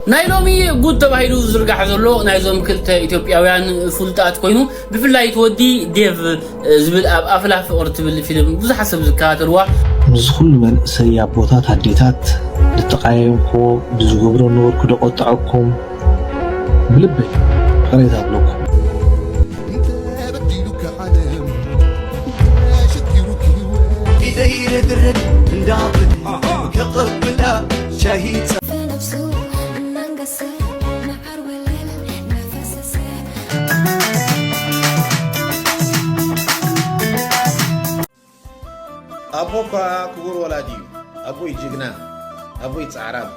ናይ ሎሚ ጉድ ተባሂሉ ዝዝርጋሕ ዘሎ ናይዞም ክልተ ኢትዮጵያውያን ፍሉጣት ኮይኑ ብፍላይ እቲ ወዲ ዴቭ ዝብል ኣብ ኣፍላ ፍቕሪ ትብል ፊልም ብዙሓት ሰብ ዝከታተልዋ ምስዚ ኩሉ መንእሰይ ኣቦታት ኣዴታት ልተቃየምክዎ ብዝገብሮ ነበርኩ ዶ ቆጠዐኩም ብልበይ ይቅሬታ ኣብለኩም። ኢደይ ረግረግ እንዳብል ከቀብላ ሻሂ ኣቦ እኳ ክቡር ወላዲ እዩ ኣቦይ ጅግና ኣቦይ ፃዕራም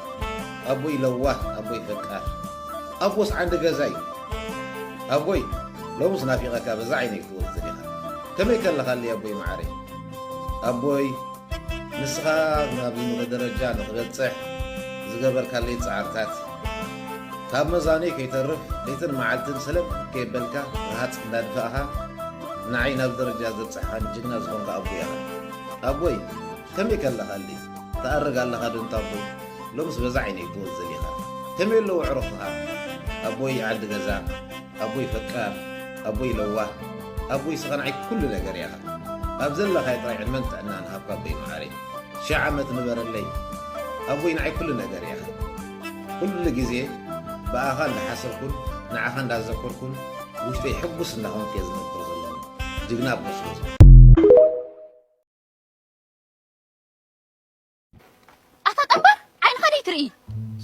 ኣቦይ ለዋህ ኣቦይ ፈቃር ኣቦስ ዓንዲ ገዛ እዩ ኣቦይ ሎምስ ናፊቐካ በዛ ዓይነይ ክትወፅእ ኢኻ ከመይ ከለኻለይ ኣቦይ መዓረይ ኣቦይ ንስኻ ናብዚ ምቕእ ደረጃ ንኽበጽሕ ዝገበርካለይ ጻዕርታት፣ ካብ መዛኑይ ከይተርፍ ለይትን መዓልትን ሰለብ ከየበልካ ረሃጽ እንዳድፋእኻ ንዓይ ናብዚ ደረጃ ዘብጸሕኻኒ ጅግና ዝኾንካ ኣቦይ ኢኻ። ኣቦይ ከመይ ከለኻልይ ትኣርግ ኣለኻ ዶ እንታቦይ ሎምስ በዛ ዓይነይ ትወዝል ኢኻ ከመይ ኣለዉ ኣዕሩኽኻ ኣቦይ ዓዲ ገዛ። ኣቦይ ፈቃር ኣቦይ ለዋህ ኣቦይ ሰቀናዒት ኩሉ ነገር ኢኻ ኣብ ዘለኻዮ ጥራይ ዕድመን ጥዕናን ሃብካ ኣቦይ መዓረይ ሽሕ ዓመት ንበረለይ ኣቦይ ንዓይ ኩሉ ነገር ኢኻ ኩሉ ግዜ ብኣኻ እንዳሓሰብኩን ንዓኻ እንዳዘከርኩን ውሽጠይ ሕጉስ እንዳኾንኩ እየ ዝነብር ዘለኹ ጅግና ኣቦ ስለ ኣታ ጠንባር ዓይንኻ ደይ ትርኢ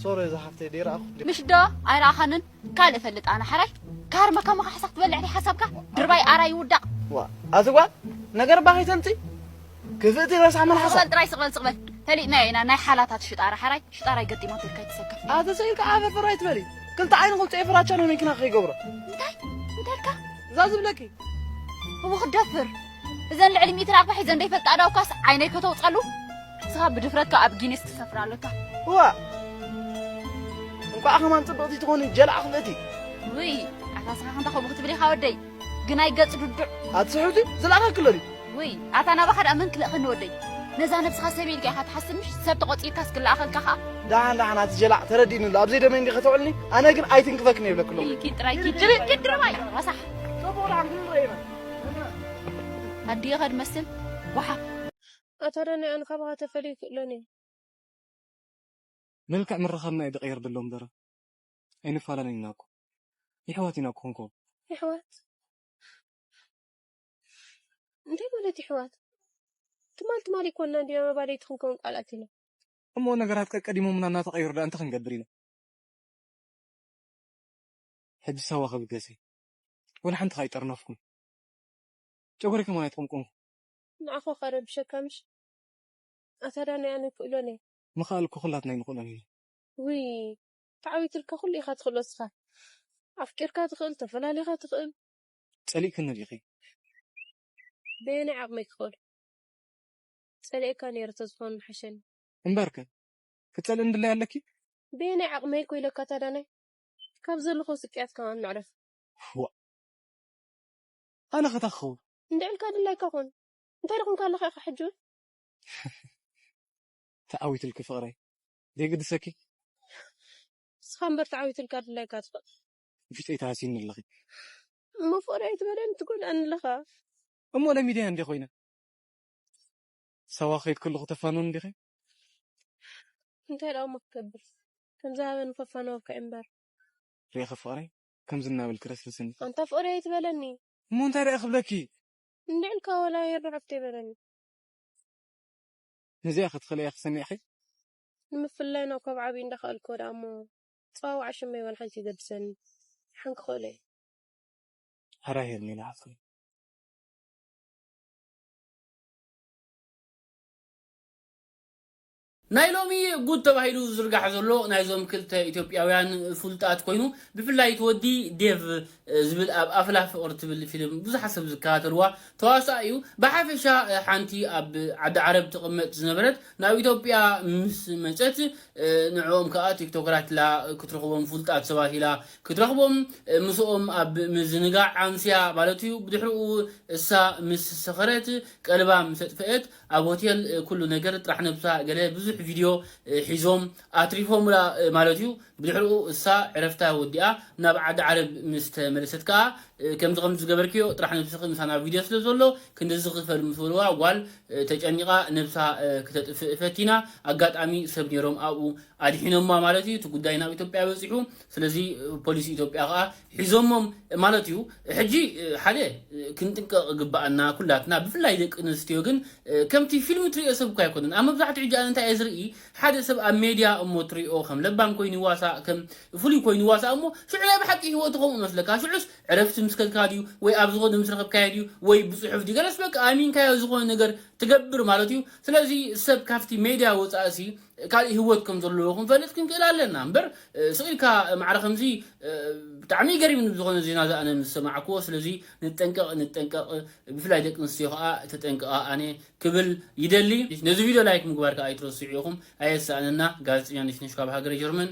ሶሪ እዛ ሓፍተይ ደይ ረኣኹ ምሽ ዶ ኣይረኣኻንን ካልእ ፈልጥ ኣነ ሓራይ ክሃርመካ ሞ ካሕሳኽ ትበልዕ ደይ ሓሳብካ ድርባይ ኣራይ ይውዳቕ ዋ ኣዚ ጓል ነገር እባ ከይተምፂ ክፍእቲ ረሳዕ መልሓሳ ስቕበል ጥራይ ስቕበል ስቕበል ፈሊጥናዮ ኢና ናይ ሓላታት ሽጣራ ሓራይ ሽጣራይ ገጢማት ኢልካ ይተሰከፍ ኣዚ ስኢልካ ዓፈፈር ኣይትበሊ ክልተ ዓይኒ ክውፅኤ ፍራቻ ንመኪና ከይገብሮ እንታይ እንታይ ኢልካ እዛ ዝብለኪ እዎ ክደፍር እዘን ልዕሊ ሚትራ እኳ ሒዘን ዘይፈልጣ ዳውካስ ዓይነይ ከተውፀሉ ንስኻ ብድፍረትካ ኣብ ጊኒስ ትሰፍር ኣለካ እዋ እንኳዕ ከማን ፅብቕቲ ትኾኒ ጀላዕ ክፍእቲ ውይ ኣታ ስኻ ከምታ ከምኡ ክትብል ኢኻ ወደይ ግናይ ገፅ ዱዱዕ ኣትስሕብቲ ዝለኣኸክሎ ድዩ ውይ ኣታ ናባኻ ድኣ መን ክልእኸኒ ወደይ ነዛ ነብስኻ ሰብ ኢልካ ኢኻ ትሓስብ ምሽ ሰብ ተቖፂርካስ ክለኣኸልካ ኸኣ ደሓን ደሓን ኣቲ ጀላዕ ተረዲእኒ ኣሎ ኣብዘይ ደመ እንዲ ከተውዕልኒ ኣነ ግን ኣይትንክፈክን የብለክሎ ኢልኪ ጥራይ ኪድ ድርባይ ረሳሕ ፅቡቕ ደሓን ክንረኢና ኣዲየ ከድ መስል ጓሓፍ። ኣታዳናይኣ ንካባካ ተፈልዩ ክእሎን እየ። መልክዕ ምርኻብና እዩ ድቅየር ደሎ እምበር ኣይንፋላለን ኢና እኮ ይሕዋት ኢና ኮንኮ። ይሕዋት እንታይ ማለት ይሕዋት ትማል ትማል ይኮና እንዲና መባልይቲ ክንከውን ቃል ኣቲና። እሞ ነገራት ቀቀዲሞሙና እናተቀየሩ ደኣ እንታይ ክንገብር ኢና ሕጂ ሳዋ ክብገሰ ወላ ሓንቲ ከኣ ኣይጠርነፍኩን ጨጎሪኩም ውን ኣይተቀምቀምኩን። ንዓኹ ከረብሸካ ምሽ ኣታ ዳኒ ኣነ ይክእሎን እየ። ምክኣል እኮ ኩላትና ኣይንክእሎን ኢና። ውይ ተዓዊትልካ ኩሉ ኢካ ትክእሎ እስካ ኣፍቂርካ ትክእል ተፈላሊካ ትክእል። ጸሊእክኒ ዲኺ? በየናይ ዓቅመይ ክኽእሎ ጸሊኤካ ነይረ ተዝኾን ምሓሸኒ። እምበርከ ክትጸልእኒ ድላይ ኣለኪ? በየናይ ዓቅመይ ኮ ኢለካ ኣታ ዳናይ ካብ ዘለኹ ስቅያት ከማን መዕረፊ። ዋእ ኣነ ከ ታይ ክኸውን። እንድዒ ኢልካ ድላይካ ኩን። እንታይ ዶ ኮንካ ኣለኻ ኢኻ ሕጂ ውን። ተዓዊትልኪ ፍቅረይ ደይግድሰኪ። ንስኻ እምበር ተዓዊትልካ ድላይካ ትኾን። ውሽጠይ ተሃሲዩኒ ኣለኺ። እሞ ፍቅረይ ኣይትበለኒ ትጎድኣኒ ኣለኻ። እሞ ለሚደያ እንድየ ኮይነ። ሳዋ ክኸይድ ከለኹ ተፋንውኒ ዲኺ። እንታይ ደኣ እሞ ክገብር። ከምዚ ሃበኒ ከፋነወካ ኢምበር። ሪኢኺ ፍቅረይ ከምዚ እናበልኪ ረስርስኒ። ኣንታ ፍቅረይ ኣይትበለኒ። እሞ እንታይ ድኣ ክብለኪ። እንድዒ ኢልካ ወላ ሄሪ ሓፍተይ በለኒ። ነዚኣ ከ ትኽእልያ ኢኺ ሰሚዕኺ። ንምፍልላይና እኳ ብ ዓብዩ እንዳኸኣልክዎ ድኣ እሞ ኣጸዋውዓ ሽመይ ዋላ ሓንቲ ይገድሰኒ ድሓን ክኽእሎ ኢየ። ሓራ ሄርሜላ ሓፍተይ። ናይ ሎሚ ጉድ ተባሂሉ ዝዝርጋሕ ዘሎ ናይዞም ክልተ ኢትዮጵያውያን ፍሉጣት ኮይኑ ብፍላይ እቲ ወዲ ዴቭ ዝብል ኣብ ኣፍላ ፍቕሪ ትብል ፊልም ብዙሓት ሰብ ዝከታተልዋ ተዋሳኢ እዩ። ብሓፈሻ ሓንቲ ኣብ ዓዲ ዓረብ ትቕመጥ ዝነበረት ናብ ኢትዮጵያ ምስ መጸት ንዕኦም ከኣ ቲክቶከራት ኢላ ክትረኽቦም ፍሉጣት ሰባት ኢላ ክትረኽቦም ምስኦም ኣብ ምዝንጋዕ ኣምስያ ማለት እዩ። ብድሕርኡ እሳ ምስ ሰኸረት ቀልባ ምስ ኣጥፈኤት ኣብ ሆቴል ኩሉ ነገር ጥራሕ ነብሳ ገለ ብዙሕ ቪድዮ ሒዞም ኣትሪፎምላ ማለት እዩ። ብድሕርኡ እሳ ዕረፍታ ወዲኣ ናብ ዓዲ ዓረብ ምስ ተመለሰት ከኣ ከምዚ ከምዚ ዝገበርክዮ ጥራሕ ነብስኺ ምሳና ኣብ ቪድዮ ስለ ዘሎ ክንድዚ ክፈል ምስ በልዋ ጓል ተጨኒቓ ነብሳ ክተጥፍእ ፈቲና ኣጋጣሚ ሰብ ኔሮም ኣብኡ ኣድሒኖማ ማለት እዩ እቲ ጉዳይ ናብ ኢትዮጵያ በጺሑ ስለዚ ፖሊስ ኢትዮጵያ ከኣ ሒዞሞም ማለት እዩ ሕጂ ሓደ ክንጥንቀቅ ይግበኣና ኩላትና ብፍላይ ደቂ ኣንስትዮ ግን ከምቲ ፊልም ትሪኦ ሰብ እኮ ኣይኮነን ኣብ መብዛሕትኡ ሕጂ ኣነ እንታይ እየ ዝርኢ ሓደ ሰብ ኣብ ሜድያ እሞ ትሪኦ ከም ለባም ኮይኑ ይዋሳእ ከም ፍሉይ ኮይኑ ይዋሳእ እሞ ሽዑ ናይ ብሓቂ ሂወቱ ከምኡ ይመስለካ ሽዑስ ዕረፍቲ ምስ ከድካ ድዩ ወይ ኣብ ዝኸዶ ምስ ረኸብካዮ ድዩ ወይ ብጽሑፍ ድዩ ገለስ በቃ ኣሚንካዮ ዝኾነ ነገር ትገብር ማለት እዩ ስለዚ ሰብ ካብቲ ሜድያ ወጻእሲ ካሊእ ሂወት ከም ዘለዎ ክንፈልጥ ክንክእል ኣለና እምበር ስቅ ኢልካ ማዕረ ከምዚ ብጣዕሚ እዩ ገሪምኒ ብዝኾነ ዜና እዚ ኣነ ምስ ሰማዕክዎ ስለዚ ንጠንቀቅ ንጠንቀቅ ብፍላይ ደቂ ኣንስትዮ ከኣ ተጠንቀቃ ኣነ ክብል ይደሊ ነዚ ቪድዮ ላይክ ምግባር ከኣ ኣይትረስዑ ኢኹም ኣየሳእነና ጋዜጠኛ ነሽነሽ ካብ ሃገረ ጀርመን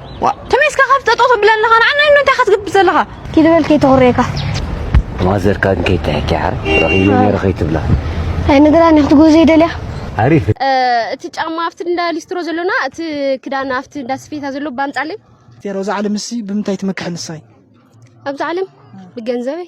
ዋእ ተመይ እስካ ካብ ጠጠው ተብለ ኣለኻ ንዓና እንዶ እንታይ ኢኻ ትገብር ዘለኻ ኪድ በል ከይተኹርየካ ማዘርካ ግን ከይትሕኪ ሓር ረኺበ ነይረ ከይትብላ ኣይነግራኒ ክትጎዘ ይደልያ ኣሪፍ እቲ ጫማ ኣብቲ እንዳ ሊስትሮ ዘሎና እቲ ክዳን ኣብቲ እንዳ ስፌታ ዘሎ ባምጻለይ ዜሮ እዛ ዓለም እሲ ብምንታይ ትመክሐ ንሳይ ኣብዚ ዓለም ብገንዘበይ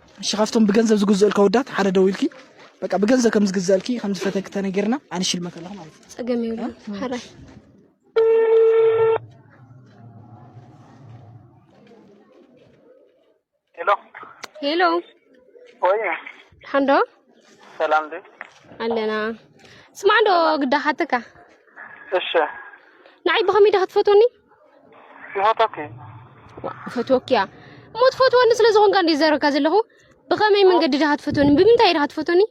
እሺ ካብቶም ብገንዘብ ዝግዝኡልካ ወዳት ሓደ ደውልኪ በቃ ብገንዘብ ከም ዝግዝኣልኪ ከም ዝፈተኪ ተነጊርና ኣነ ሽልመት ኣለኹ ማለት እዩ ጸገም ይብሉ ሓራይ ሄሎ ሄሎ ወይ ሓንዶ ሰላም ዲ ኣለና ስማዕ ዶ ግዳ ሓተካ እሺ ንዓይ ብኸመይ ዳ ክትፈትወኒ ይፈቶኪ ይፈትወኪ እያ እሞ ትፈትወኒ ስለ ዝኾንካ እንደ ዘረካ ዘለኹ ብኸመይ መንገዲ ድኻ ትፈትወኒ ብምንታይ ድኻ ትፈትወኒ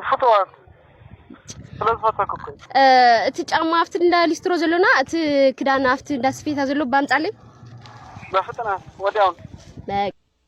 ፍትዋት እቲ ጫማ ኣብቲ እንዳ ሊስትሮ ዘሎና እቲ ክዳን ኣብቲ እንዳ ስፌታ ዘሎ ባምጻለይ በፍጥነት ወዲያውን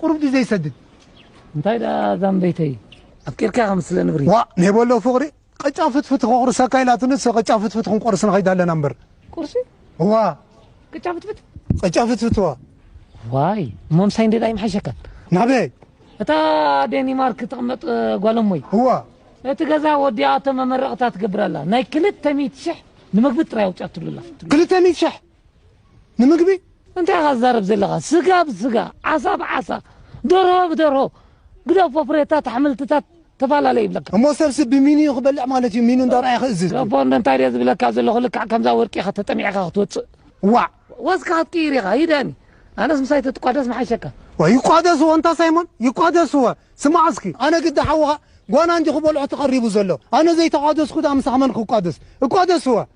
ቁሩብ ድዩ ዘይሰድድ? እንታይ ደኣ ዛምበይተይ ኣፍቂርካ ከም ስለ ንብሪ። ዋእ ኔቦ ኣሎ ፍቕሪ ቕጫ ፍትፍቲ ከቑርሰካ ኢላትኒ ንሰ ቕጫ ፍትፍቲ ክንቆርስ ንኸይድ ኣለና እምበር። ቁርሲ? እዋ። ቅጫ ፍትፍት? ቕጫ ፍትፍት እዋ። ዋይ እሞ ምሳይ እንድየ ኣይምሓሸካን? ናበይ? እታ ዴኒማርክ ትቕመጥ ጓል እሞይ። እዋ። እቲ ገዛ ወዲኣቶ መመረቕታ ትገብር ኣላ ናይ ክልተ ሚእቲ ሽሕ ንምግቢ ጥራይ ኣውጺኣትሉ ኣላ። ክልተ ሚእቲ ሽሕ? ንምግቢ እንታይ ኢኻ ትዛረብ ዘለኻ ስጋ ብስጋ ዓሳ ብዓሳ ደርሆ ብደርሆ ግደፎ ፍሬታት ኣሕምልትታት ተፈላለ ይብለካ እሞ ሰብሲ ብሚንዩ ክበልዕ ማለት እዩ ሚኑ እንዳርኣየ ክእዝዝ ገፎ እንዶ እንታይ ድየ ዝብለካ ዘለኹ ልክዕ ከምዛ ወርቂ ኢኻ ተጠሚዕካ ክትወፅእ ዋዕ ወዝካ ክትቅይር ኢኻ ይደኒ ኣነስ ምሳይ ተትቋደስ ምሓሸካ ዋይ ይቋደስዎ እንታ ሳይሞን ይቋደስዎ ስማዕ እስኪ ኣነ ግዲ ሓውኻ ጓና እንዲዩ ክበልዖ ተቐሪቡ ዘሎ ኣነ ዘይተቋደስኩ ድኣ ምሳኻ መን ክቋደስ እቋደስዎ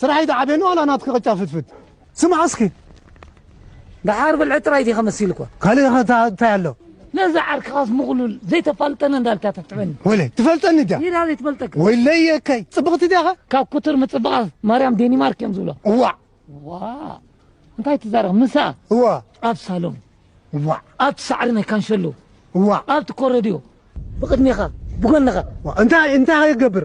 ስራሕ ኣይትዓብየኒ ዋላ ናትኪ ቅጫ ፍትፍት ስማዕ እስኪ ደሓር ብልዒ ጥራይ ዲኻ መሲልኳ ካልእ ኸ እንታይ ኣሎ ነዛ ዓርክኻስ ምቕሉል ዘይተፋልጠኒ እንዳልካ ተትዕበኒ ወይለይ ትፈልጠኒ ድያ ሂራ ዘይትፈልጠካ ወይለይ የከይ ጽብቕቲ ድያኸ ካብ ኩትር ምጽብቓ ማርያም ዴኒማርክ እዮም ዝብሎ እዋዕ ዋ እንታይ ትዛረብ ምሳ እዋ ኣብ ሳሎን እዋዕ ኣብቲ ሳዕሪ ናይ ካንሸሎ እዋዕ ኣብቲ ኮረድዮ ብቕድሜኻ ብጎንኻ እንታይ እንታይ ኸይገብር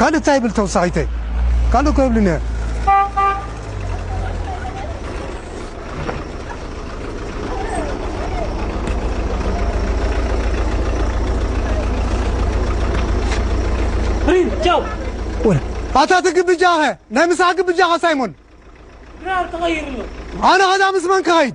ካልእ ታይ ይብል ተውሳኺተይ ካልእ እኮ የብሉን እየ። ኣታ እቲ ግብጃኸ ናይ ምሳሕ ግብጃኸ ሳይሞን ኣነ ከዳ ምስ መን ክኸይድ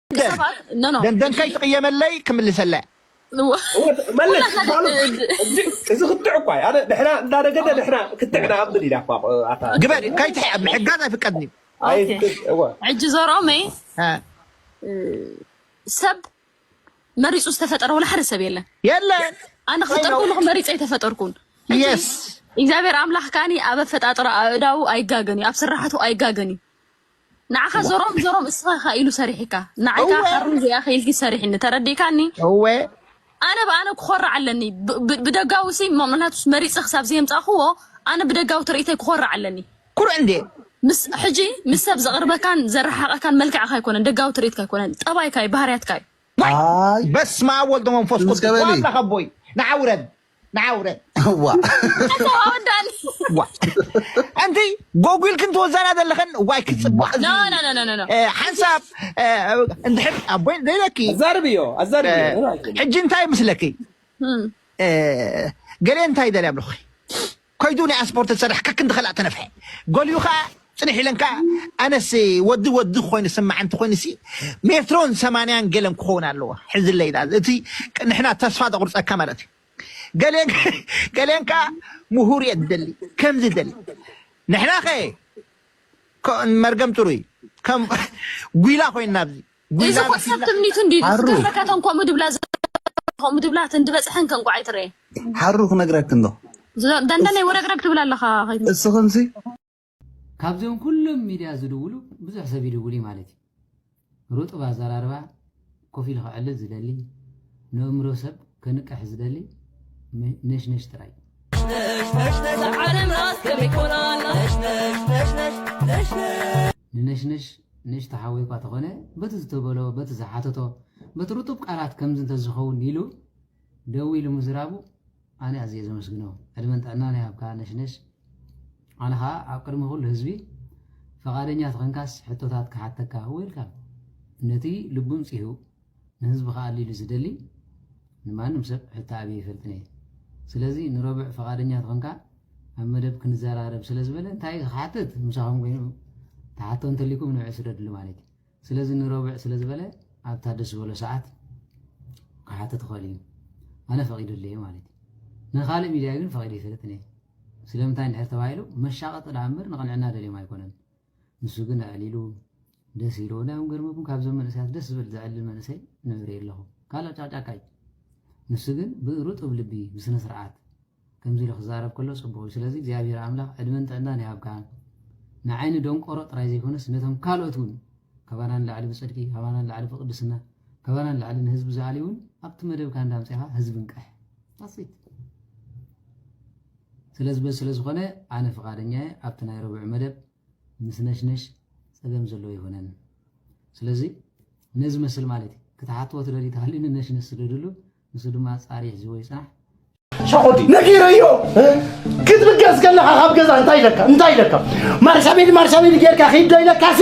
ደንደን ከይትቕየመለይ ክምልሰላ መለስ እዚ ክትዕ እኳ ኣነ ንሕና እንዳነገደ ንሕና ክትዕ ንኣምን ኢና ግበል ከይትሕ ኣብ ምሕጋዝ ኣይፍቀድን እዩ ሕጂ ዘርኦመይ ሰብ መሪፁ ዝተፈጠረ ወላ ሓደ ሰብ የለን የለን ኣነ ክፍጠር ከለኩ መሪፀ ኣይተፈጠርኩን እግዚኣብሔር ኣምላኽ ካኒ ኣብ ኣፈጣጥሮ ኣእዳው ኣይጋገን እዩ ኣብ ስራሕቱ ኣይጋገን እዩ ንዓኻ ዘሮም ዘሮም እስኻ ኢኻ ኢሉ ሰሪሒካ ንዓይ እወ ከዓ ሓሩን እዚኣ ኢኻ ኢልኪ ሰሪሕኒ ተረዲእካኒ እወ ኣነ ብኣነ ክኾርዕ ኣለኒ ብ- ብ- ብደጋዊ ሲ ምክንያቱስ መሪፀ ክሳብ ዘየምፃእክዎ ኣነ ብደጋዊ ትርኢተይ ክኾርዕ ኣለኒ ኩርዕ እንዴ ምስ ሕጂ ምስ ሰብ ዘቕርበካን ዘረሓቐካን መልክዕካ ኣይኮነን ደጋዊ ትርኢትካ ኣይኮነን ጠባይካ እዩ ባህርያትካ እዩ ዋይ ኣይ በስመ ኣብ ወልድ መንፈስ ቅዱስ ተመስገበሊ ዋላ ከቦይ ንዓ ውረድ ንዓ ውረድ ኣንቲ ጎጉልክን ትወዛና ዘለኽን ዋይ ክፅብቅ ሓንሳብ እንድሕር ኣቦይ ዘይለኪ ኣዛርብዮ ኣዛርብዮ ሕጂ እንታይ ምስለኪ ገለ እንታይ ይደልያ ብለኹ ከይዱ ናይ ኣስፖርት ዝሰርሕ ከክንዲ ከላእ ተነፍሐ ጎልዩ ከኣ ጽንሕ ኢለን ከኣ ኣነስ ወዲ ወዲ ኮይኑ ስማዕ እንተ ኮይኑሲ ሜትሮን ሰማንያን ገለን ክኸውን ኣለዎ ሕዝለይ ኢላ እቲ ንሕና ተስፋ ዘቑርጸካ ማለት እዩ ገሌን ገሌን ከኣ ምሁር እየ ዝደሊ ከምዚ ደሊ ንሕና ከ መርገም ጥሩይ ከም ጒላ ኮይንና ኣብዚ እዚ እኮ ሰብ ትምኒቱ እንዲዩ ዝገብረ ከተን ከምኡ ድብላ ከምኡ ድብላ እተን ድበፅሐን ከ እንቋዕ ኣይትረኤ ሓሩ ክነግረክ እንዶ ደንደነይ ወረግረግ ትብል ኣለኻ እስኽንሲ ካብዚኦም ኩሎም ሚድያ ዝድውሉ ብዙሕ ሰብ ይድውል እዩ ማለት እዩ ርጡብ ኣዘራርባ ኮፍ ኢሉ ክዕልል ዝደሊ ንእምሮ ሰብ ከንቅሕ ዝደሊ ነሽነሽ ጥራይ ንነሽነሽ ንእሽቶ ሓው'ኳ ተኾነ በቲ ዝተበሎ በቲ ዝሓተቶ በቲ ርጡብ ቃላት ከምዚ እንተዝኸውን ኢሉ ደዊሉ ምዝራቡ ኣነ ኣዝየ ዘመስግኖ ዕድመን ጥዕናን ይሃብካ ነሽነሽ ኣነ ኸኣ ኣብ ቅድሚ ኩሉ ህዝቢ ፈቓደኛ ተኾንካስ ሕቶታት ክሓተካ ዌልካም ነቲ ልቡን ጺሁ ንህዝቢ ክኣሊ ኢሉ ዝደሊ ንማንም ሰብ ሕቶ ኣብየ ኣይፈልጥን እየ። ስለዚ ንረቡዕ ፈቓደኛ ተኾንካ ኣብ መደብ ክንዘራረብ ስለ ዝበለ እንታይ ክሓትት ምሳኹም ኮይኑ ተሓቶ እንተሊኩም ንብዕ ስደድሉ ማለት እዩ። ስለዚ ንረቡዕ ስለ ዝበለ ኣብታ ደስ ዝበሎ ሰዓት ክሓትት ይኽእል እዩ። ኣነ ፈቒደሉ እየ ማለት እዩ። ንካልእ ሚድያ ግን ፈቒደ ኣይፈልጥን እየ። ስለምንታይ እንድሕር ተባሂሉ መሻቐጢ ደኣ እምበር ንቕንዕና ደልዮም ኣይኮነን። ንሱ ግን ኣዕሊሉ ደስ ኢልዎ እንታይ እዮም ገርመኩም ካብዞም መንእሰያት ደስ ዝብል ዘዕልል መንእሰይ ንርኢ ኣለኹ ካልእ ጫቅጫቃ እዩ ንሱ ግን ብርጡብ ልቢ ብስነ ስርዓት ከምዚ ኢሉ ክዛረብ ከሎ ጽቡቕ እዩ ስለዚ እግዚኣብሔር ኣምላኽ ዕድመን ጥዕናን ይሃብካ ንዓይኒ ደንቆሮ ጥራይ ዘይኮነስ ነቶም ካልኦት እውን ካባና ንላዕሊ ብጽድቂ ካባና ንላዕሊ ብቅድስና ካባና ንላዕሊ ንህዝቢ ዝኣልዩ እውን ኣብቲ መደብካ እንዳምፅኻ ህዝቢ ንቅሕ ታሲት ስለዚ በዚ ስለ ዝኾነ ኣነ ፍቓደኛ እየ ኣብቲ ናይ ረቡዕ መደብ ምስ ነሽነሽ ጸገም ዘለዎ ኣይኮነን ስለዚ ነዚ መስል ማለት እዩ ክትሓትዎ ትደልዩ ተሃልዩ ንነሽነሽ ስደድሉ ንሱ ድማ ጻሪ ሒዝዎ ይጽናሕ ሸኾዲ ነጊረዮ ክትብገስ ከለኻ ካብ ገዛ እንታይ ኢለካ እንታይ ኢለካ ማርሻቤሊ ማርሻቤሊ ጌርካ ኺድ ዶ ኢለካሲ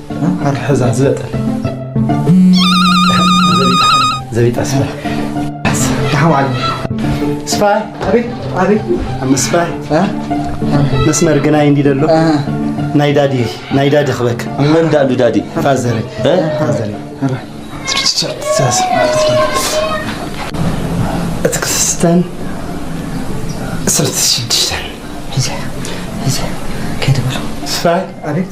ኣትሕዛ ዝበጠለ ዘቢጣ ስፋይ ተሓዋዓል ስፋይ ኣቤት ኣቤት ምስፋይ መስመር ግናይ እንዲ ደሎ ናይ ዳዲ ናይ ዳዲ ክበክ መን ዳሉ ዳዲ ፋዘረ ፋዘረ እቲ ክስተን ስርት ሽድሽተን ሒዘ ሒዘ ከይትበሎ ስፋይ ኣቤት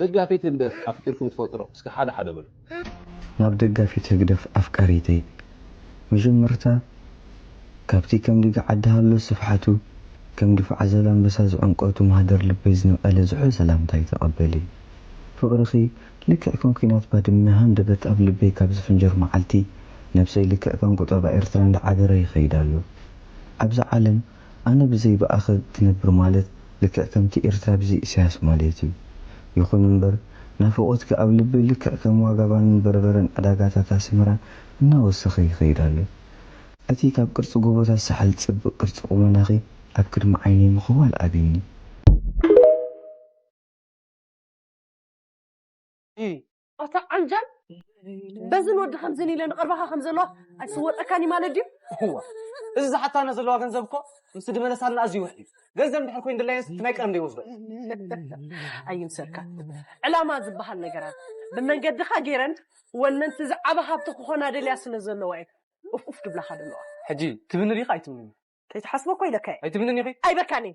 ደጋፊት ህግደፍ ኣፍቂርኩም ትፈልጡዶ እስከ ሓደ ሓደ በሉ። ናብ ደጋፊት ህግደፍ ኣፍቃሪተይ መጀመርታ ካብቲ ከም ዲጋ ዓዲ ሃሎ ስፍሓቱ ከም ድፋዕ ዛላምበሳ ዝዕምቆቱ ማህደር ልበይ ዝነቀለ ዝሑል ሰላምታይ ተቀበሊ። ፍቅርኺ ልክዕ ከም ኩናት ባድመ ሃንደበት ኣብ ልበይ ካብ ዝፍንጀር መዓልቲ ነብሰይ ልክዕ ከም ቁጠባ ኤርትራ እንዳዓበረ ይኸይድ ኣሎ። ኣብዛ ዓለም ኣነ ብዘይ ብኣኸ ክነብር ማለት ልክዕ ከምቲ ኤርትራ ብዘይ ኢሳያስ ማለት እዩ። ይኹን እምበር ናፍቖትኪ ኣብ ልበይ ልክዕ ከም ዋጋ ባንን በርበረን ዕዳጋታት ኣስመራ እናወሰኸ ይኸይድ ኣሎ። እቲ ካብ ቅርጺ ጎቦታት ሳሕል ጽብቅ ቅርጺ ቁመናኺ ኣብ ቅድሚ ዓይነይ ምኽዋል ኣቢኒ። ኣታ ዓንጃል በዝን ወዲ ከምዝን ኢለ ንቐርባኻ ከም ዘለዋ ኣይስወጠካን እዩ ማለት ድዩ እዋ እዚ ዝሓታና ዘለዋ ገንዘብ እኮ ምስ ድመለሳልና ኣዝዩ ውሕ እዩ ገንዘብ እንድሕር ኮይኑ ድላየንስ ናይ ቀደም ደይወስዶ ኣይምሰልካ ዕላማ ዝበሃል ነገራት ብመንገድኻ ገይረን ወነንቲ እዚ ዓበ ሃብቲ ክኾና ደልያ ስለ ዘለዋ እዩ ኡፍኡፍ ድብላኻ ደለዋ ሕጂ ትብኒ ዲኻ ኣይትብንን ከይትሓስቦ እኮ ኢለካ እየ ኣይትብንን ኢኺ ኣይበካን እዩ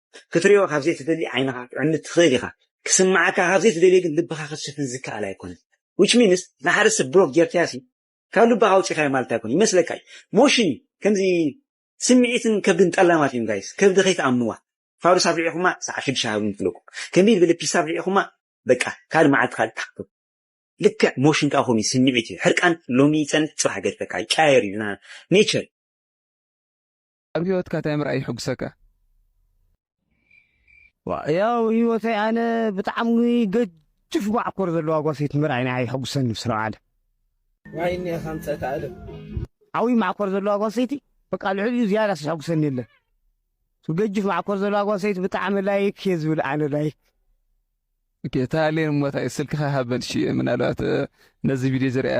ክትርእዮ ካብ ዘይትደሊ ዓይንኻ ክትዕምት ትኽእል ኢኻ፣ ክስምዓካ ካብ ዘይትደልዮ ግን ልብኻ ክትሽፍን ዝከኣል ኣይኮነን which means ንሓደ ሰብ ብሎክ ጌርካዮሲ ካብ ልብኻ ኣውጺኻዮ ማለት ኣይኮነን ይመስለካ እዩ ሞሽን እዩ ከምዚ ስምዒትን ከብድን ጠላማት እዮም ጋይስ ከብዲ ከይትኣምንዋ ፋዱስ ኣብሊዕኹማ ሰዓት ሽዱሽተ ሃብኒ ትብለኩም ከመይ ዝበለ ፒሳ ኣብሊዕኹማ በቃ ካልእ መዓልቲ ካልእ ትሓፍሩ ልክዕ ሞሽን ከዓ ከምኡ ስምዒት እዩ ሕርቃን ሎሚ ይፀንሕ ፅባሕ ገድፈካ ይቀያየር እዩ ኔቸር ኣብ ሂወትካ ታይ ምርኣይ ይሕጉሰካ? ያው ሂወተይ ኣነ ብጣዕሚ ገጅፍ ማዕኮር ዘለዋ ጓሰይቲ ምርኣይ ንዓይ ይሕጉሰኒ ምስ ረብዓለ። ዋይ እኒኣኻ ኣምፀእካ ኣለም። ዓብይ ማዕኮር ዘለዋ ጓሰይቲ በቃ ልዕሊኡ ዝያዳስ ዝሕጉሰኒ የለን። ገጅፍ ማዕኮር ዘለዋ ጓሰይቲ ብጣዕሚ ላይክ እየ ዝብል ኣነ ላይክ። ኦኬ እታ ኣሌን እሞ ታይ ስልክኻ ሃበን እሺ ምናልባት ነዚ ቪድዮ ዝርእያ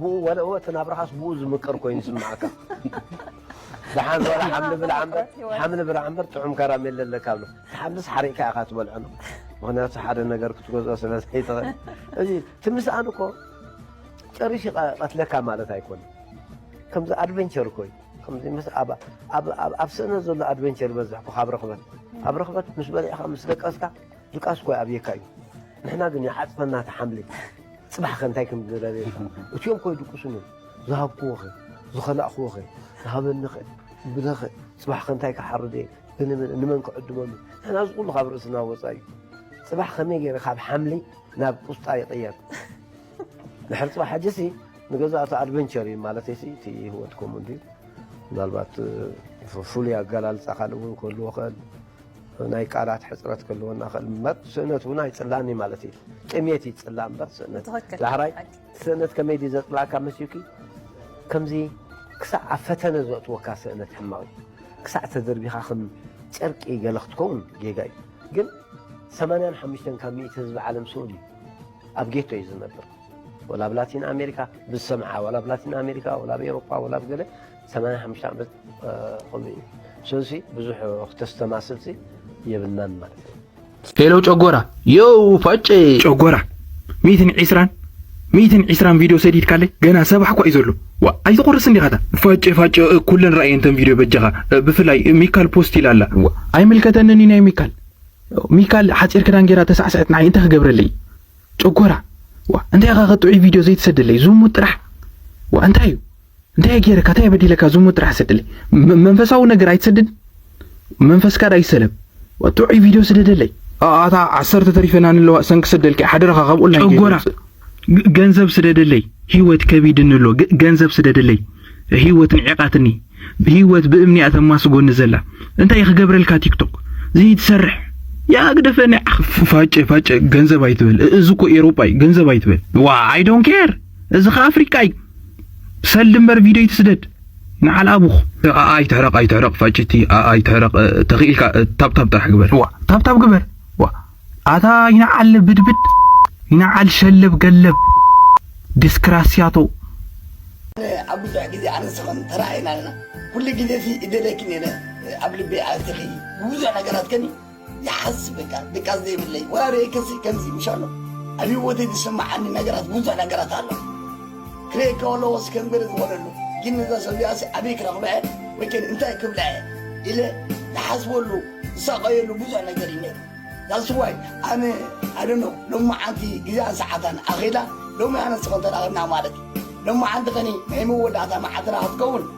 ብኡ ወለኦ እቲ ናብራኻስ ብኡ ዝምቅር ኮይኑ ይስምዓካ ደሓን ወላ ሓምሊ ብላዕ እምበር ሓምሊ ብላዕ እምበር ጥዑም ከራሜለ ኣለካ ብሎ ሓምልስ ሓሪቕካ ኢኻ ትበልዖ ምክንያቱ ሓደ ነገር ክትገዝኦ ስለ ዘይትኽእል እዚ ትምስኣን እኮ ጨሪሽ ቀትለካ ማለት ኣይኮነ ከምዚ ኣድቨንቸር እኮ እዩ ከምዚ ምስ ኣብ ኣብ ስእነ ዘሎ ኣድቨንቸር ይበዝሕ እኮ ካብ ርኽበት ኣብ ርኽበት ምስ በልዕኻ ምስ ደቀስካ ድቃስ እኮ ኣብየካ እዩ ንሕና ግን ይዓፅፈና ተሓምሊ ጽባሕ ከ እንታይ ከም ዝደለየ እትዮም ኮ ይድቁሱኒ ዝሃብክዎ ከ ዝኸላእክዎ ከ ዝሃበኒ ከ ብለ ከ ጽባሕ ከ እንታይ ክሓርድ እየ ብንመን ንመን ክዕድመሉ ንሕና እዚ ኩሉ ካብ ርእስና ወጻኢ እዩ ጽባሕ ከመይ ገይረ ካብ ሓምሊ ናብ ቁስጣ ይቕየር ድሕሪ ጽባሕ ሕጂሲ ንገዛእቲ ኣድቨንቸር እዩ ማለተይሲ እቲ ህይወት ከምኡ እንድዩ ምናልባት ፍሉይ ኣገላልጻ ካልእ እውን ክህልዎ ክእል ናይ ቃላት ሕፅረት ክህልወና ይኽእል እምበር ስእነት እውን ኣይፅላን እዩ ማለት እዩ። ጥሜት እዩ ዝፅላእ እምበር ስእነት ትኽክል። ዳሕራይ ሓቂ። ስእነት ከመይ ድዩ ዘፅላእካ መስዩኪ ከምዚ ክሳዕ ኣብ ፈተነ ዘእትወካ ስእነት ሕማቕ እዩ ክሳዕ ተደርቢኻ ከም ጨርቂ ገለ ክትከውን ጌጋ እዩ ግን 85 ካብ ሚእቲ ህዝቢ ዓለም ስኡን እዩ ኣብ ጌቶ እዩ ዝነብር ወላ ኣብ ላቲን ኣሜሪካ ብዝሰምዓ ወላ ኣብ ላቲን ኣሜሪካ ወላ ኣብ ኤሮፓ ወላ ኣብ ገለ ሰማንያ ሓሙሽተ ዓመት ኾኑ እዩ ስለዚ ብዙሕ ክተስተማስልሲ የብልናን ማለት እዩ። ሄሎ ጨጎራ ዮው ፋጨ ጨጎራ ሚትን ዒስራን ሚትን ዒስራን ቪድዮ ሰዲድካለይ ገና ሰባሕ እኳ እዩ ዘሎ ዋ ኣይትቑርስ እንዲኻታ ፋጨ ፋጨ ኩለን ራእየን ተን ቪድዮ በጃኻ ብፍላይ ሚካል ፖስት ኢላ ኣላ ኣይምልከተንን እዩ ናይ ሚካል ሚካል ሓፂር ክዳን ጌራ ተሳዕስዐት ንዓይ እንታይ ክገብረለይ ጨጎራ ዋ እንታይ ኢኻ ከጥዑይ ቪድዮ ዘይትሰደለይ ዝሙት ጥራሕ ዋ እንታይ እዩ እንታይ ገይረካ እንታይ በዲለካ ዝሙት ጥራሕ ስድለይ መንፈሳዊ ነገር ኣይትሰድን መንፈስካ ዳ ይሰለም ጥዑይ ቪድዮ ስደደለይ ኣታ ዓሰርተ ተሪፈና ንለዋ ሰንኪ ስደልኪ ሓደራኻ ካብ ኦንላይን ጨጎራ ገንዘብ ስደደለይ ህይወት ከቢድኒ ኣሎ ገንዘብ ስደደለይ ህይወት ንዕቃትኒ ህይወት ብእምኒ እያ ተማስጎኒ ዘላ እንታይ ክገብረልካ ቲክቶክ ዘይትሰርሕ ያ ግደፈኒ ፋጨ ፋጨ ገንዘብ ኣይትበል እዚ እኮ ኤሮጳ እዩ ገንዘብ ኣይትበል ዋ ኣይ ዶንት ኬር እዚ ከ ኣፍሪቃ እዩ ሰልዲ እምበር ቪድዮ ይትስደድ ንዓል ኣቡኹ ኣኣ ይትሕረቕ ኣይትሕረቕ ፋጭቲ ኣኣ ይትሕረቕ ተኽኢልካ ታብታብ ጥራሕ ግበር ዋ ታብታብ ግበር ዋ ኣታ ይንዓል ብድብድ ይንዓል ሸለብ ገለብ ዲስክራስያቶ ኣብ ብዙሕ ግዜ ኣነስኸን ተራእይና ኣለና ኩሉ ግዜ ሲ እደለኪ ነይረ ኣብ ልበይ ኣቲኺ ብብዙሕ ነገራት ከኒ ይሓስብ በቃ ድቃስ ዘይብለይ ወራሪ ከሲ ከምዚ ምሻሎ ኣብ ህይወተይ ዝስምዓኒ ነገራት ብዙሕ ነገራት ኣሎ ክሪኤ ከሎ ወስ ከንብር ዝወለሉ ግን እዛ ሰብያሲ ኣበይ ክረኽበዐ ወይ ከን እንታይ ክብለዐ ኢለ ዝሓስበሉ ዝሳቐየሉ ብዙሕ ነገር እዩ ነይሩ ዳስዋይ ኣነ ኣደኖ ሎሚ ዓንቲ ግዜኣን ሰዓታን ኣኼዳ ሎሚ ኣነስ ኸንተራኸብና ማለት እዩ ሎሚ ዓንቲ ኸኒ ናይ መወዳእታ መዓልትና ክትከውን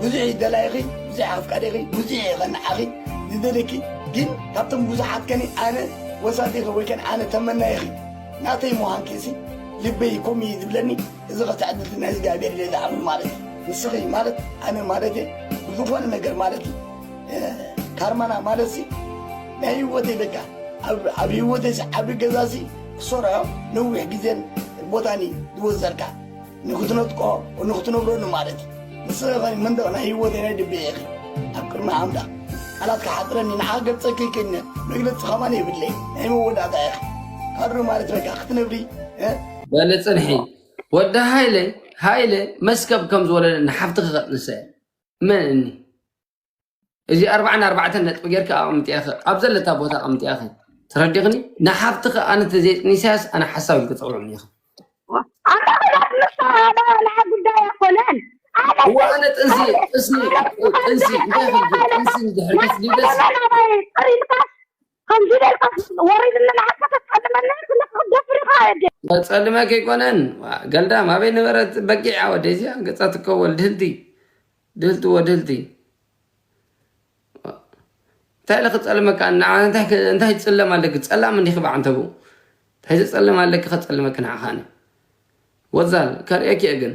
ብዙሕ'ዩ ደላይኺ ብዙሕ ኣፍቃሪኺ ብዙሕ'የ ከ ንዓኺ ዝደልየኪ ግን ካብቶም ብዙሓት ከኒ ኣነ ወሳጢኺ ወይ ከኒ ኣነ ተመናይኺ ናተይ ምዃንኪ'ሲ ልበይ ኮም'ዩ ዝብለኒ እዚ ከ ትዕድልቲ ናይ እግዚኣብሔር ኢለ ዝኣምኖ ማለት እዩ ንስኺ ማለት ኣነ ማለት'የ ብዝኾነ ነገር ማለት እዩ ካርማና ማለት'ሲ ናይ ህይወተይ በቃ ኣብ ህይወተይ'ሲ ዓቢ ገዛ'ሲ ክሰርሖ ነዊሕ ግዜን ቦታን እዩ ዝወሰድካ ንኽትነጥቆ ንኽትነብረሉ ማለት እዩ ንስኺ ኸ መንደቕ ናይ ህይወተይ ናይ ልበይ ኢኺ ኣብ ቅድሚ ኣምላኽ ቃላት ክሓፅረኒ ንሓ ገልፀ ከይክእልነ መግለፂ ኸማን የብለይ ናይ መወዳእታ ኢኺ ካድሮ ማለት በቃ ክትነብሪ በሊ ፅንሒ ወዲ ሃይለ ሃይለ መስከብ ከም ዝወለደ ንሓፍትኺ ከጥንሰ መን እኒ እዚ ኣርባዓን ኣርባዕተን ነጥቢ ጌርኪ ኣቐምጥያኺ ኣብ ዘለታ ቦታ ኣቐምጥያኺ ተረዲኽኒ ንሓፍትኺ ኣነ ተዘይጥኒሳያስ ኣነ ሓሳብ ኢልኪ ፀውዕኒ ኢኺ ኣነ ክላት ምሳና ናዓ ጉዳይ ኣይኮነን ኣነ እዋ ኣነ ጥንሲ ጥንሲ ጥንሲ እንታይ ኽልጊ ጥንሲ እንድሕር ተስጊደስ ኢልካ ከምዚ ጌርካ ወረይ ዝመላሓካ ተጸልመና ኣለካ ደፍርካ ኣደ። መጸልሚ ኣይኮነን ዋእ ገልዳም ኣበይ ነበረት በጊዕ ኣወደይ እዚኣ ገጻ ትከወል ድህልቲ ድህልቲ ወድህልቲ እንታይ ኢለ ክጸልመካ ንዓ እንታይ ትጽለም ኣለኪ ጸላም እንዲኺ ብዓንተቡ እንታይ ዘጸልም ኣለኪ ከጸልመኪ ንዓኻኒ ወዛል ከርእየኪ እየ ግን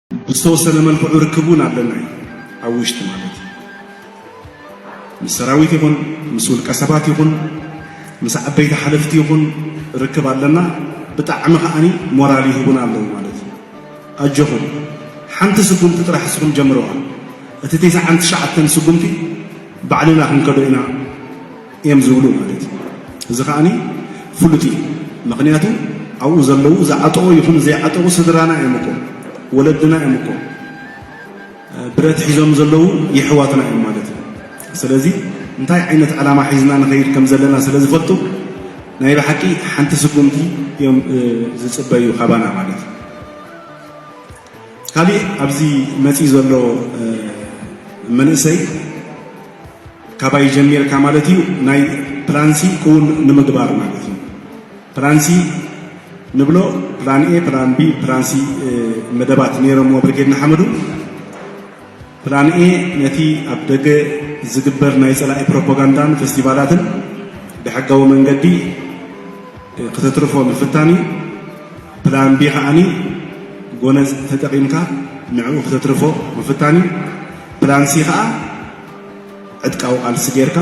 ብዝተወሰነ መልክዑ ርክብ እውን ኣለና እዩ ኣብ ውሽጢ ማለት እዩ ምስ ሰራዊት ይኹን ምስ ውልቀ ሰባት ይኹን ምስ ዓበይቲ ሓለፍቲ ይኹን ርክብ ኣለና ብጣዕሚ ከዓኒ ሞራል ይህቡና ኣለዉ ማለት እዩ ኣጆኹም ሓንቲ ስጉምቲ ጥራሕ እስኹም ጀምረዋ እቲ ቴስዓን ትሽዓተን ስጉምቲ ባዕልና ክንከዶ ኢና እዮም ዝብሉ ማለት እዩ። እዚ ከኣ ፍሉጥ እዩ ምክንያቱ ኣብኡ ዘለዉ ዝዓጠቑ ይኹን ዘይዓጠቑ ስድራና እዮም እኮ ወለድና እዮም እኮ ብረት ሒዞም ዘለዉ የሕዋትና እዮም ማለት እዩ። ስለዚ እንታይ ዓይነት ዕላማ ሒዝና ንኸይድ ከም ዘለና ስለ ዝፈልጡ ናይ ብሓቂ ሓንቲ ስጉምቲ እዮም ዝጽበዩ ካባና ማለት እዩ። ካሊእ ኣብዚ መፂኡ ዘሎ መንእሰይ ካባይ ጀሚርካ ማለት እዩ ናይ ፕላንሲ ክውን ንምግባር ማለት እዩ ፕላንሲ ንብሎ ፕላን ኤ ፕላን ቢ ፕላንሲ መደባት ነይሮምዎ ብርጌድ ንሓመዱ ፕላን ኤ ነቲ ኣብ ደገ ዝግበር ናይ ጸላኢ ፕሮፓጋንዳን ፈስቲቫላትን ብሕጋዊ መንገዲ ክተትርፎ ምፍታን እዩ። ፕላን ቢ ከኣኒ ጎነጽ ተጠቂምካ ንዕኡ ክተትርፎ ምፍታን እዩ። ፕላን ሲ ከኣ ዕጥቃዊ ቃልሲ ጌርካ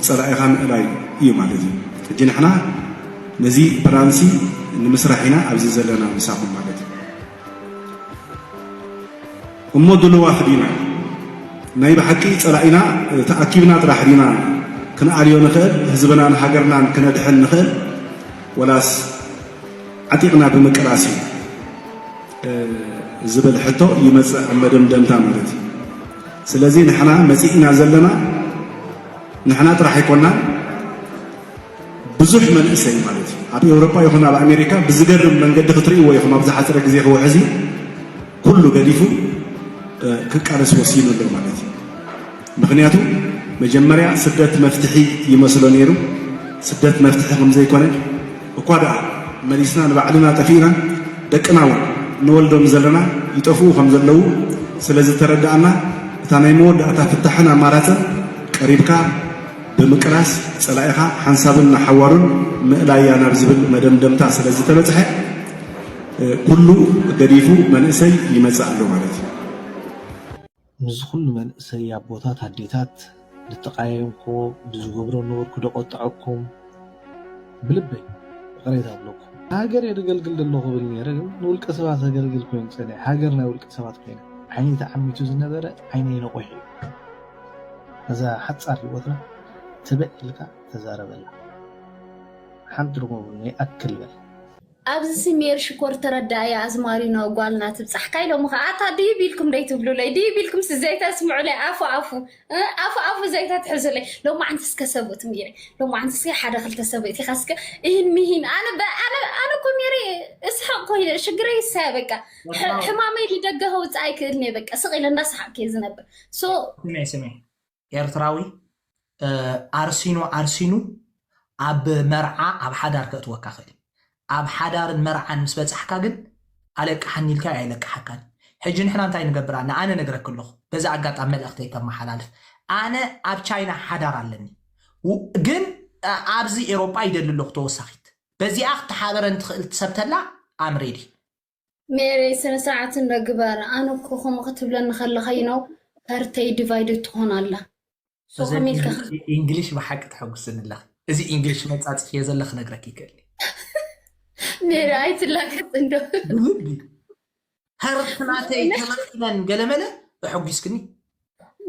ጸላኢኻ ምእላይ እዩ ማለት እዩ። ሕጂ ንሕና ነዚ ፕላን ሲ ንምስራሕ ኢና ኣብዚ ዘለና ምሳኹም ማለት እዩ። እሞ ድልዋት ዲና? ናይ ብሓቂ ጸላኢና ተኣኪብና ጥራሕ ዲና ክንኣልዮ ንኽእል? ህዝብናን ሃገርናን ክነድሕን ንኽእል? ወላስ ዓጢቕና ብምቅላስ እዩ? ዝብል ሕቶ ይመጽእ ኣብ መደምደምታ ማለት እዩ። ስለዚ ንሕና መጺእና ዘለና ንሕና ጥራሕ ኣይኮናን። ብዙሕ መንእሰይ ማለት እዩ ኣብ ኤውሮጳ ይኹን ኣብ ኣሜሪካ ብዝገርም መንገዲ ክትርእይዎ ኢኹም ኣብ ዝሓፀረ ግዜ ክውሕዝ እዩ ኩሉ ገዲፉ ክቃለስ ወሲኑ ኣሎ ማለት እዩ ምክንያቱ መጀመርያ ስደት መፍትሒ ይመስሎ ነይሩ ስደት መፍትሒ ከም ዘይኮነ እኳ ደኣ መሊስና ንባዕልና ጠፊእና ደቅና እውን ንወልዶም ዘለና ይጠፍኡ ከም ዘለዉ ስለ ዝተረዳእና እታ ናይ መወዳእታ ፍታሕን ኣማራፅን ቀሪብካ ብምቅላስ ፀላኢኻ ሓንሳብን ንሓዋሩን ምእላያ ናብ ዝብል መደምደምታ ስለ ዝተበፅሐ ኩሉ ገዲፉ መንእሰይ ይመፅእ ኣሎ ማለት እዩ። ምስዚ ኩሉ መንእሰይ ኣቦታት ኣዴታት ልተቃየምክዎ ብዝገብሮ ነውር ክደቆጠዐኩም ብልበይ እቅሬታ ኣብለኩም። ንሃገረይ ደገልግል ደለኹ ብል ነይረ ግን ንውልቀ ሰባት ኣገልግል ኮይኑ ፀኒሐ ሃገር ናይ ውልቀ ሰባት ኮይና። ዓይነይ ተዓሚቱ ዝነበረ ዓይነይ ነቁሑ እዩ። ነዛ ሓጻር ሂወትና ትብዕ ኢልካ ተዛረበላ ሓንቲ ትርጉም የብሉን ይኣክል በል። ኣብዚሲ ሜሪ ሽኮር ተረዳእያ ኣዝማሪኖ ጓልና ትብጻሕ ካይ ሎሚ ከኣ ኣታ ድይብ ኢልኩም ደይትብሉለይ ድይብ ኢልኩምሲ ዘይተስምዑለይ ኣፉ ኣፉ ኣፉ ኣፉ ዘይተትሕዙለይ ሎማዓንቲ እስከ ሰብኡት ሜሪ ሎማዓንቲ እስከ ሓደ ክልተ ሰብእት ኢኻ እስከ እሂን ምሂን ኣነ ኣነ ኣነ እኮ ሜሪ እስሕቕ ኮይነ ሽግረይ ይሳያ በቃ ሕማመይ ልደገ ከውጽእ ኣይክእልን እየ በቃ ስቕ ኢለ እንዳሰሓቕክ እየ ዝነብር ስሜ ስሜ ኤርትራዊ ዓርሲኑ ዓርሲኑ ኣብ መርዓ ኣብ ሓዳር ከእትወካ ክእል እዩ ኣብ ሓዳርን መርዓን ምስ በጻሕካ ግን ኣለቅሓኒ ኢልካዮ ኣይለቅሓካን ሕጂ ንሕና እንታይ ንገብር ኣለ ኣነ ነግረክ ኣለኹ በዚ ኣጋጣሚ መልእኽተይ ከመሓላልፍ ኣነ ኣብ ቻይና ሓዳር ኣለኒ ግን ኣብዚ ኤሮጳ ይደሊ ኣለኹ ተወሳኺት በዚኣ ክትሓበረን ትኽእል ትሰብተላ ኣም ሬዲ ሜሪ ስነ ስርዓት እንዶ ግበር ኣነ እኮ ከምኡ ክትብለኒ ከለካ ዩ ነው ሀርተይ ዲቫይድድ ትኾን ኣላ ሶ እዘን ከመይ ኢልካ ኢንግ- ኢ- ኢንግሊሽ ብሓቂ ተሐጉስኒ ኣለኺ እዚ ኢንግሊሽ መጻጽፍዮ ዘለ ክነግረኪ ይክእል ሜሪ ኣይትላገጽ እንዶ ብልቢ ሀርት ናተይ ተመኪነን ገለመለ እሐጒስክኒ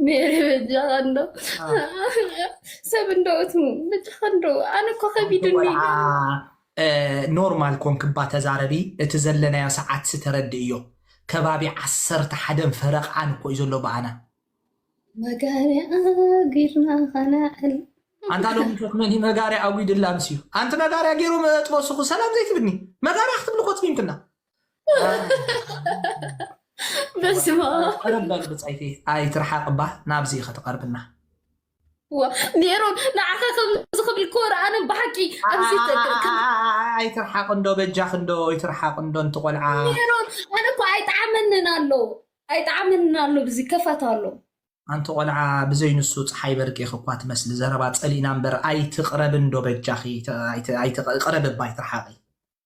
ሜሪ በጃኻ እንዶ ሰብ እንዶ እቱ በጃኻ እንዶ ኣነ እኮ ከቢድኒ ወልዓ እ፣ ኖርማል ኮንክባ ተዛረቢ እቲ ዘለናዮ ሰዓት ስተረድእዮ ከባቢ ዓሰርተ ሓደን ፈረቃን እኮ እዩ ዘሎ በኣና መጋርያ ጊርና ኸነዕል ኣንታ ሎሚ ምሸት መን እዩ መጋርያ ኣጒድላ ምስ እዩ ኣንቲ መጋርያ ገይሮም ጥበስኹ ሰላም ዘይትብኒ መጋርያ ክትብሊ ኮፅሚምክና በስመ ኣብ ቀረብ በል ብፃይቲ ኣይትርሓቅ እባ ናብዚ ከተቀርብና ሜሮን ንዓኻ ከምዚ ክብል እኮ ረኣነ ብሓቂ ኣብዚ ተ- ከ- ከ- ኣይትርሓቅ እንዶ በጃኽ እንዶ ይትርሓቅ እንዶ እንቲ ቆልዓ ሜሮን ኣነ እኮ ኣይጠዓመንን ኣሎ ኣይጠዓመንን ኣሎ ብዚ ከፋት ኣሎ ኣንቲ ቆልዓ ብዘይ ንሱ ፀሓይ በርቂኽ እኳ ትመስሊ ዘረባ ፀሊእና እምበር ኣይትቅረብ እንዶ በጃኺ ተ- ኣይት- ኣይትቅ- ቅረብ እባ ኣይትርሓቂ